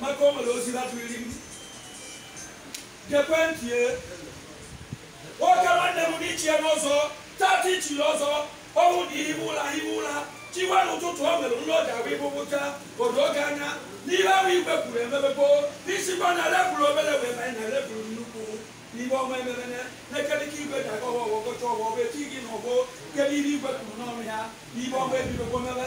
maka o nwere ozi batụriri m gekwe ntị e. nwoke nwanne m n'ichie n'ọzọ tata ichiri ọzọ ọnwụ dị ihu ụla ihu ụla chiwa n'ụtụtụ o nwere nri oji ahụ ịbụbụcha o doo gị anya n'ihe ahụ igwe kwuru emebego isikwa na level obere wee banye na level nnukwu n'ihe ọma emebene na-ekerịta igwe ji agọ ọfọ ọ gọcha ọfọ wee chi gị n'ọgbọ kere ihe igwe kwuru n'ọnụ ya n'ihe ọma ebidogo mebe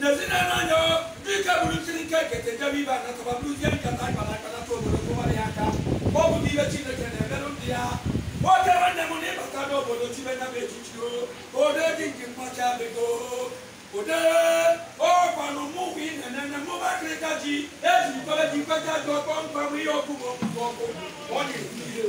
Nezina nanyo dika bulutiri nke kete jabi ba na taba bulu yen kata ay bala kala to bulu ko wari aka ko bu dibe chine kene melu dia o te wande mu ni bata do bulu tibe na be chichiro o de din kin ma cha be go o de o kwa no mu wi ne ne ne mu ba kre ka ji e ji ko be ji ko ja do ko ko wi o ku mo ko ko o ni ni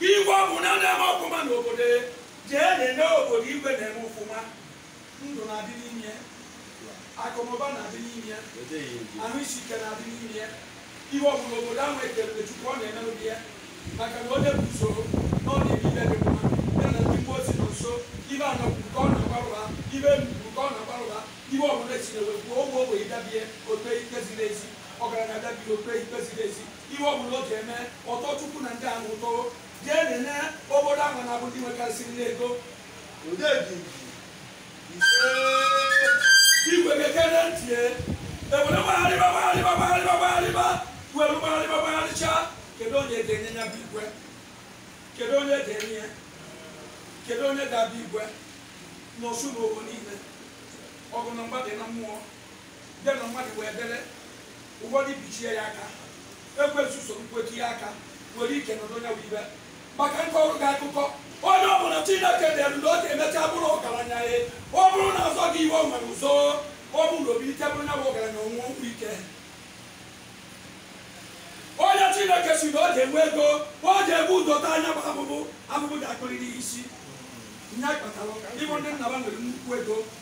Igwe ọbụla na-eme ọfụma n'obodo jee nene obodo igwe na-eme ọfụma ndụ na-adị n'ime ya akụnụba na-adị n'ime ya ahụ isi ike na-adị n'ime ya ihe ọ bụla obodo ahụ ekelere chukwu ọ na-eme n'ụdị ya maka na onye bụ usoro na ọ na-eme ife dị mma ya na ndị mmụọ si na nso ife ana kwuru ka ọ na-agbarụba ife elu kwuru ka ọ na-agbarụba ife ọbụla esiri wee kwuo ogbe ogbenye dabie o kpe ikpe ziri ezi ọgaranya dabie o kpe ikpe ziri ezi Ihe ọ bụla ọ ga-eme, ọ tọọ Chukwu na ndị ahụ ụtọ, gaa nene obodo ahụ na-abụ ndị nwekarịsịrị n'ego. Odeji ise. Igwe gekere ntị e, ewere gbagharịba gbagharịba gbagharịba gbagharịba were gbagharịba gbagharịcha kedu onye ga-enye ya bụ igwe kedu onye ga-enye ya kedu onye ga-abụ igwe n'Osumoghu niile ọgụ na mgba dị na mmụọ dị na mmadụ wee dere ụfọdụ bichie ya aka ekwensu soro mkwechi ya aka nwere ike nọdụ onye bụ igwe ma ka m kọọrọ gị akụkọ onye ọ bụla chineke dere na ọ ga-emecha bụrụ ọgaranya ya ọ bụrụ na asọ gị i were ụzọ ọ bụrụ na o bilite bụrụ nya bụ ọgaranya onwe ụkwụ ike onye chineke si na ọ ga-enwe ego ọ ga-ebu ụzọ taa nya bụ afụfụ afụfụ ga-akụrịrị ya isi nya kpatara ị fụ ndị nna fa nwere nnukwu ego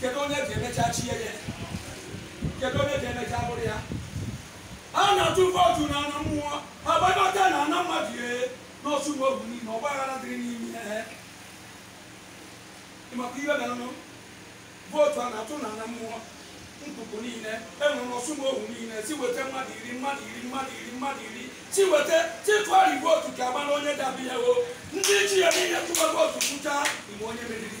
kedu onye ga-emecha chie ya kedu onye ga-emecha bụrụ ya a na-atụ vootu na ana mmụọ agbagọta na ana mmadụ ye n'Osumoghu niile ọgba aghara dịrị n'ime ya ị makwa ihe merenụ vootu a na-atụ na ana mmụọ nkuku niile enwere n'Osumoghu niile si weta mmadụ iri mmadụ iri mmadụ iri mmadụ iri Ti weta ti tụgharị igwe otu ka ama na onye dabi ya o ndị ji ya niile tụgharị otu kwucha igbe onye meriri